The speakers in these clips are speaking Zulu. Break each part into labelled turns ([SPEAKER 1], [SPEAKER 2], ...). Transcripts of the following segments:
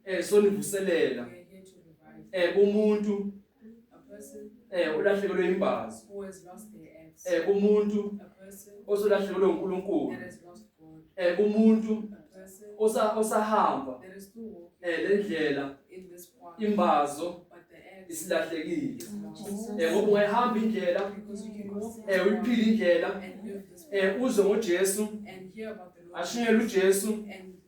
[SPEAKER 1] eh sonivuselela eh umuntu eh ulahlekelwe
[SPEAKER 2] imbazo
[SPEAKER 1] eh umuntu osolahlekelwe
[SPEAKER 2] uNkulunkulu
[SPEAKER 1] eh umuntu
[SPEAKER 2] osa
[SPEAKER 1] osahamba eh lendlela imbazo isilahlekile eh ngoba ungayihamba
[SPEAKER 2] indlela
[SPEAKER 1] eh uyiphila indlela
[SPEAKER 2] eh
[SPEAKER 1] uze ngoJesu ashunyelwe uJesu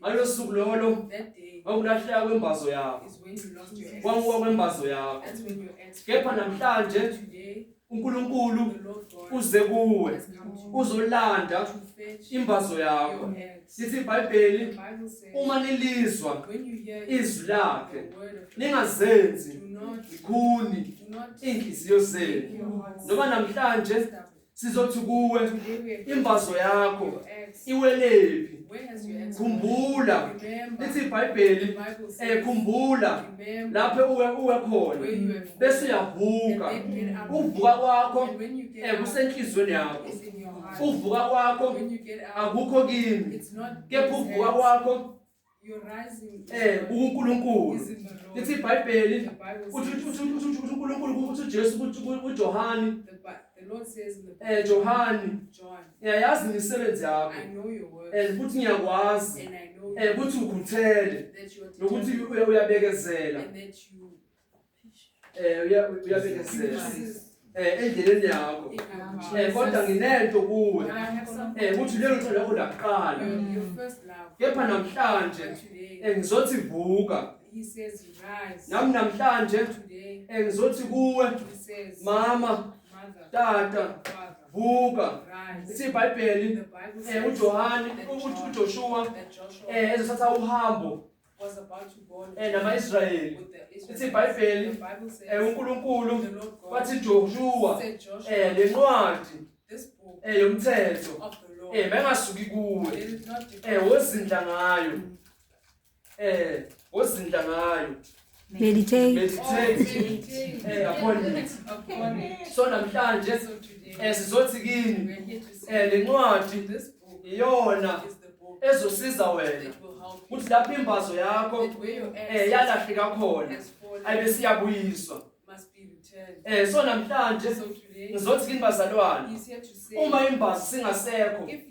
[SPEAKER 2] ngalo
[SPEAKER 1] suku lolo
[SPEAKER 2] wawulahleka
[SPEAKER 1] kwembazo
[SPEAKER 2] yakho
[SPEAKER 1] wanguwa kwembazo yakho
[SPEAKER 2] kepha
[SPEAKER 1] namhlanje uNkulunkulu
[SPEAKER 2] uze
[SPEAKER 1] kuwe uzolanda imbazo yakho
[SPEAKER 2] sithi
[SPEAKER 1] iBhayibheli
[SPEAKER 2] uma
[SPEAKER 1] nilizwa
[SPEAKER 2] izwi
[SPEAKER 1] lakhe ningazenzi ikhuni
[SPEAKER 2] inhliziyo zenu noma
[SPEAKER 1] namhlanje
[SPEAKER 2] sizothi
[SPEAKER 1] kuwe
[SPEAKER 2] imbazo
[SPEAKER 1] yakho iwelephi khumbula
[SPEAKER 2] lithi
[SPEAKER 1] ibhayibheli
[SPEAKER 2] eh
[SPEAKER 1] khumbula
[SPEAKER 2] lapho uwe
[SPEAKER 1] uwe
[SPEAKER 2] khona bese
[SPEAKER 1] uyavuka
[SPEAKER 2] uvuka
[SPEAKER 1] kwakho
[SPEAKER 2] eh
[SPEAKER 1] kusenhlizweni yakho
[SPEAKER 2] uvuka
[SPEAKER 1] kwakho
[SPEAKER 2] akukho
[SPEAKER 1] kimi
[SPEAKER 2] kepha
[SPEAKER 1] uvuka kwakho Eh, uNkulunkulu.
[SPEAKER 2] Lithi
[SPEAKER 1] iBhayibheli
[SPEAKER 2] uthi uthi
[SPEAKER 1] uthi
[SPEAKER 2] uNkulunkulu
[SPEAKER 1] uthi
[SPEAKER 2] uJesu ukuthi uJohane. The Lord
[SPEAKER 1] says in the Bible. Eh Johane. John.
[SPEAKER 2] Ngiyayazi
[SPEAKER 1] imisebenzi
[SPEAKER 2] yakho. I know your work. Eh
[SPEAKER 1] ukuthi ngiyakwazi.
[SPEAKER 2] And I know. Eh ukuthi
[SPEAKER 1] ukhuthele.
[SPEAKER 2] That you are. Nokuthi uyabekezela.
[SPEAKER 1] And
[SPEAKER 2] that you
[SPEAKER 1] Eh uya
[SPEAKER 2] uyabekezela. Eh endleleni yakho. Eh kodwa
[SPEAKER 1] nginento
[SPEAKER 2] kuwe. Eh
[SPEAKER 1] ukuthi lelo cela lakho
[SPEAKER 2] lakuqala.
[SPEAKER 1] Kepha namhlanje
[SPEAKER 2] eh
[SPEAKER 1] ngizothi vuka.
[SPEAKER 2] He says rise.
[SPEAKER 1] Nami namhlanje
[SPEAKER 2] eh ngizothi
[SPEAKER 1] kuwe mama
[SPEAKER 2] tata vuka ithi
[SPEAKER 1] iBhayibheli
[SPEAKER 2] eh
[SPEAKER 1] uJohane ukuthi
[SPEAKER 2] uJoshua eh
[SPEAKER 1] ezothatha uhambo
[SPEAKER 2] was about to go
[SPEAKER 1] eh namaIsrayeli
[SPEAKER 2] ithi
[SPEAKER 1] iBhayibheli
[SPEAKER 2] eh
[SPEAKER 1] uNkulunkulu
[SPEAKER 2] wathi
[SPEAKER 1] Joshua
[SPEAKER 2] eh
[SPEAKER 1] lencwadi
[SPEAKER 2] eh
[SPEAKER 1] yomthetho
[SPEAKER 2] eh
[SPEAKER 1] bengasuki kuwe
[SPEAKER 2] eh
[SPEAKER 1] wozindla ngayo
[SPEAKER 2] mm. eh wozindla ngayo Meditate.
[SPEAKER 3] Meditate eh,
[SPEAKER 2] upon it. So
[SPEAKER 1] namhlanje
[SPEAKER 2] eh,
[SPEAKER 1] sizothi kini
[SPEAKER 2] eh, le
[SPEAKER 1] ncwadi
[SPEAKER 2] iyona
[SPEAKER 1] ezosiza wena
[SPEAKER 2] ukuthi
[SPEAKER 1] lapho imbazo yakho
[SPEAKER 2] eh
[SPEAKER 1] yalahleka khona
[SPEAKER 2] ayibe
[SPEAKER 1] siyabuyiswa Eh so namhlanje
[SPEAKER 2] ngizothi
[SPEAKER 1] kini bazalwane uma imbazo singasekho